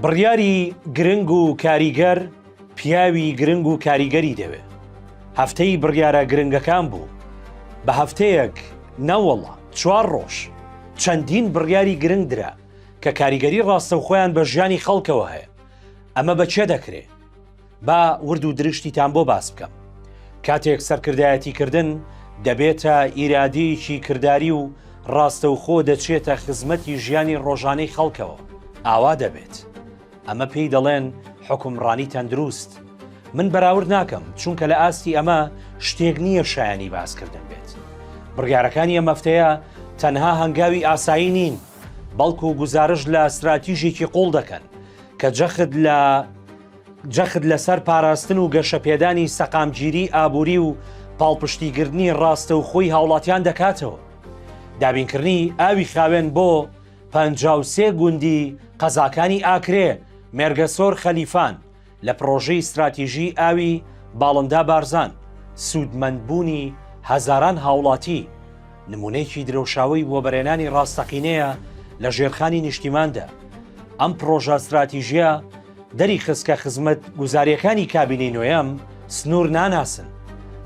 بڕیاری گرنگ و کاریگەر پیاوی گرنگ و کاریگەری دەوێ هەفتەی بڕیارە گرنگەکان بوو بە هەفتەیەک نەوەڵا چوار ڕۆژ چەندین بڕیاری گرنگ درا کە کاریگەری ڕاستەوخۆیان بە ژیانی خەڵکەوە هەیە ئەمە بە کێ دەکرێ؟ با ورد و درشتیتان بۆ باس بکەم کاتێک سەرکردایەتی کردن دەبێتە ئیرادەیەکی کردداری و ڕاستەوخۆ دەچێتە خزمەتی ژیانی ڕۆژانەی خەڵکەوە ئاوا دەبێت ئەمە پێی دەڵێن حکومڕانی تەندروست من بەراورد ناکەم چونکە لە ئاستی ئەمە شتێک نییە شایانی باسکردن بێت بڕیارەکانی ئەم مەفتەیە تەنها هەنگاوی ئاسایی نین بەڵکو گزارش لە استراتیژێکی قوڵ دەکەن کە جەخت لە جەخت لەسەر پاراستن و گەشەپێدانی سەقامگیری ئابووری و پاڵپشتیگردنی ڕاستەوخۆی هاوڵاتیان دەکاتەوە. دابینکردنی ئاوی خاوێن بۆ پەنجا و سێ گوندی قەزاکانی ئاکرێ، مێرگەسۆر خەلیفان، لە پڕۆژەی ستراتیژیی ئاوی باڵندا بارزان، سوودمەندبوونی هەزاران هاوڵاتی، نموونەیەکی درەوشاوەی وەبەرێنانی ڕاستەقینەیە لە ژێرخانی نیشتیماندا. ئەم پڕۆژە ستراتیژییە، دەریخست کە خزمەت گوزاریەکانی کابینەی نۆیەم سنور ناناسن،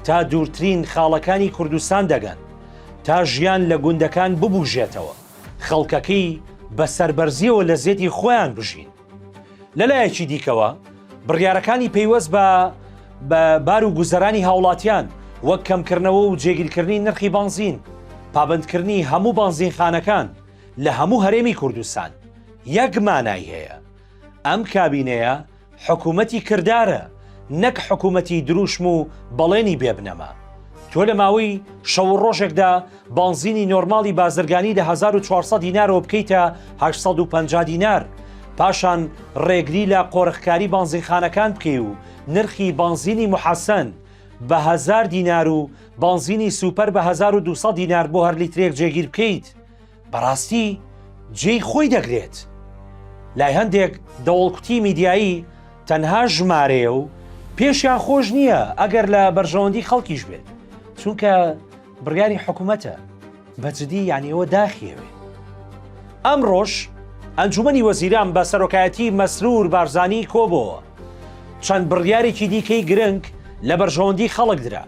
تا دوورترین خاڵەکانی کوردستان دەگەن، تا ژیان لە گوندەکان ببوژێتەوە، خەڵکەکەی بە سەربەرزیەوە لە زێدی خۆیان بژین. لە لایەکی دیکەوە بڕیارەکانی پەیوەست بە بە بار و گوزەرانی هاوڵاتیان وەک کەمکردنەوە و جێگیرکردنی نرخی بەنزین، پابەندکردنی هەموو بەنزینخانەکان لە هەموو هەرێمی کوردستان یەک مانای هەیە، ئەم کابینەیە حکومەتی کردارە نەک حکومەتی دروشم و بەڵێنی بێ بنەما. تۆ لە ماوەی شەو و ڕۆژێکدا بانزینی نۆرماڵی بازرگانی لە 1400 دینارەوە بکەیتە 850 دینار، پاشان ڕێگری لە قۆرخکاری بانزینخانەکان بکەی و نرخی بانزینی محەسەن بە هەزار دینار و بانزینی سوپەر بە 1200 دینار بۆ هەر لیترێک جێگیر بکەیت، بەڕاستی جێی خۆی دەگرێت لای هەندێک دەوڵکوتی میدیایی تەنها ژمارەیە و پێشیان خۆش نییە ئەگەر لە بەرژەوەندی خەڵکیش بێت چونکە بڕیاری حکوومەتە بەجددی یانیەوە داخیەوێ ئەم ڕۆژ ئەنجومی وەزیران بە سەرۆکایەتی مەسرور بارزانانی کۆبەوە چەند بڕیارێکی دیکەی گرنگ لە بەرژەوەندی خەڵک درا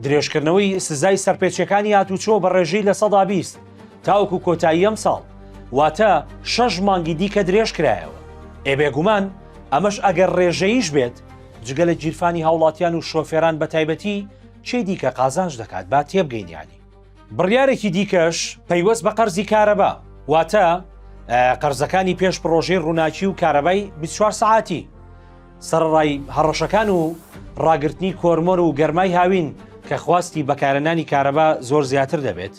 درێژکردنەوەی سزای سەرپێچەکانی هاتوچۆ بە ڕێژەی لە سەدا بیست تاوەکو کۆتایی ئەمساڵ، واتە شەش مانگی دیکە درێژکرایەوە، ئێ بێگومان ئەمەش ئەگەر رێژەییش بێت، جگە لە گیرفانی هاوڵاتیان و شۆفێران بەتایبەتی چی دیکە قازانج دەکات با تێبگەین یانی. بڕیارێکی دیکەش پەیوەست بە قەرزی کارەبا، واتە قەرزەکانی پێش پڕۆژەی رووناکی و کارەبای بیست و چوار سەعاتی، سەرەڕای هەڕەشەکان و راگرتنی کۆرمۆر و گەرمای هاوین کە خواستی بەکارهێنانی کارەبا زۆر زیاتر دەبێت،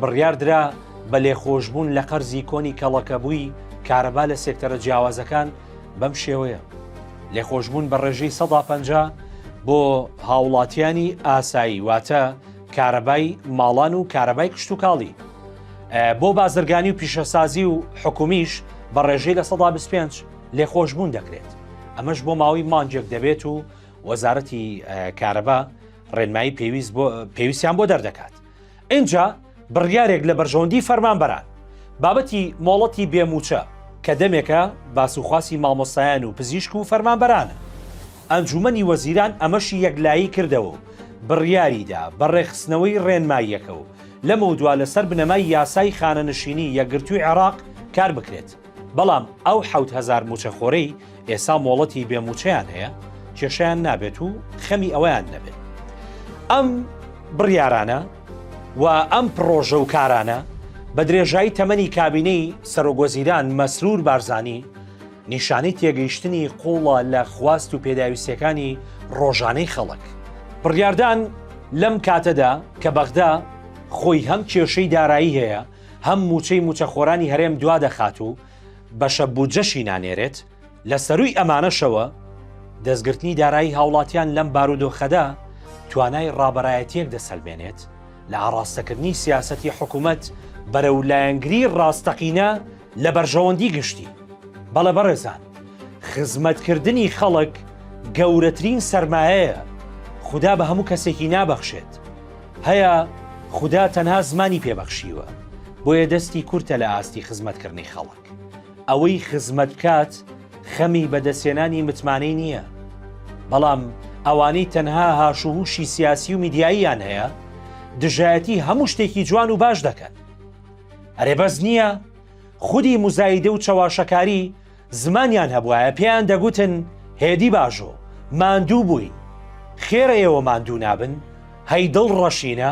بڕیاردرا بە لێخۆشبوون لە قەرزی کۆنی کەڵەکەبووی کارەبا لە سێکتەرە جیاوازەکان بەم شێوەیە لێخۆشببوون بە ڕێژەی سەدا پ بۆ هاوڵاتیانی ئاسایی واتە کارەبای ماڵان و کارەبای کشتتوکاڵی بۆ بازرگانی و پیشەسازی و حکومیش بە ڕێژەی لە سەدا 25 لێخۆشببوون دەکرێت ئەمەش بۆ ماوەی مانجێک دەبێت و وەزارەتی کارەبا ڕێنمایی پێویست پێویستیان بۆ دەردەکات ئینجا بڕیارێک لە بەرژەوەندی فەرمانبەران بابەتی مۆڵەتی بێ مووچە کە دەمێکە باس و خواسی مامۆستایان و پزیشک و فەرمانبەرانە ئەنجومەنی وەزیران ئەمەشی یەکلایی کردەوە و بڕیاریدا بە ڕێکخستنەوەی ڕێنماییەکە و لەمەودوا لەسەر بنەمای یاسای خانەنشینی یەکگرتووی عێراق کار بکرێت. بەڵام ئەو حەوت هەزار مووچەخۆرەی ئێسا مۆڵەتی بێ مووچەیان هەیە کێشیان نابێت و خەمی ئەویان نەبێت ئەم بڕیارانە و ئەم پڕۆژە و کارانە بە درێژایی تەمەنی کابینەی سەرۆگۆزیران مەسرور بارزانانی نیشانەی تێگەیشتنی قوڵە لە خواست و پێداویستەکانی ڕۆژانەی خەڵک بڕیاردان لەم کاتەدا کە بەغدا خۆی هەم کێشەی دارایی هەیە هەم مووچەی مووچەخۆرانی هەرێم دوادەخات و بەشە بودجەشی نانێرێت، لە سەرووی ئەمانەشەوە دەستگرتنی دارایی هاوڵاتیان لەم بارودۆخەدا توانای ڕابەرایەتیەک دەسەلمێنێت لە ئاڕاستەکردنی سیاسەتی حکومەت بەرەو لایەنگری ڕاستەقینە لە بەرژەوەندی گشتی. بەڵێ بەڕێزان، خزمەتکردنی خەڵک گەورەترین سەرمایەیە خودا بە هەموو کەسێکی نابەخشێت، هەیە خودا تەنها زمانی پێ بەخشیوە بۆیە دەستی کورتە لە ئاستی خزمەت کردنی خەڵک ئەوەی خزمەت بکات خەمی بەدەسێنانی متمانەی نییە بەڵام ئەوانەی تەنها هاش و هوشی سیاسی و میدیاییان هەیە دژایەتی هەموو شتێکی جوان و باش دەکەن ئەرێ بەس نییە خودی مزایدە و چەواشەکاری زمانیان هەبوایە پێیان دەگوتن هێدی باژۆ، ماندوو بووین، خێرە ئێوە ماندوو نابن؟ هەی دڵ ڕەشینە.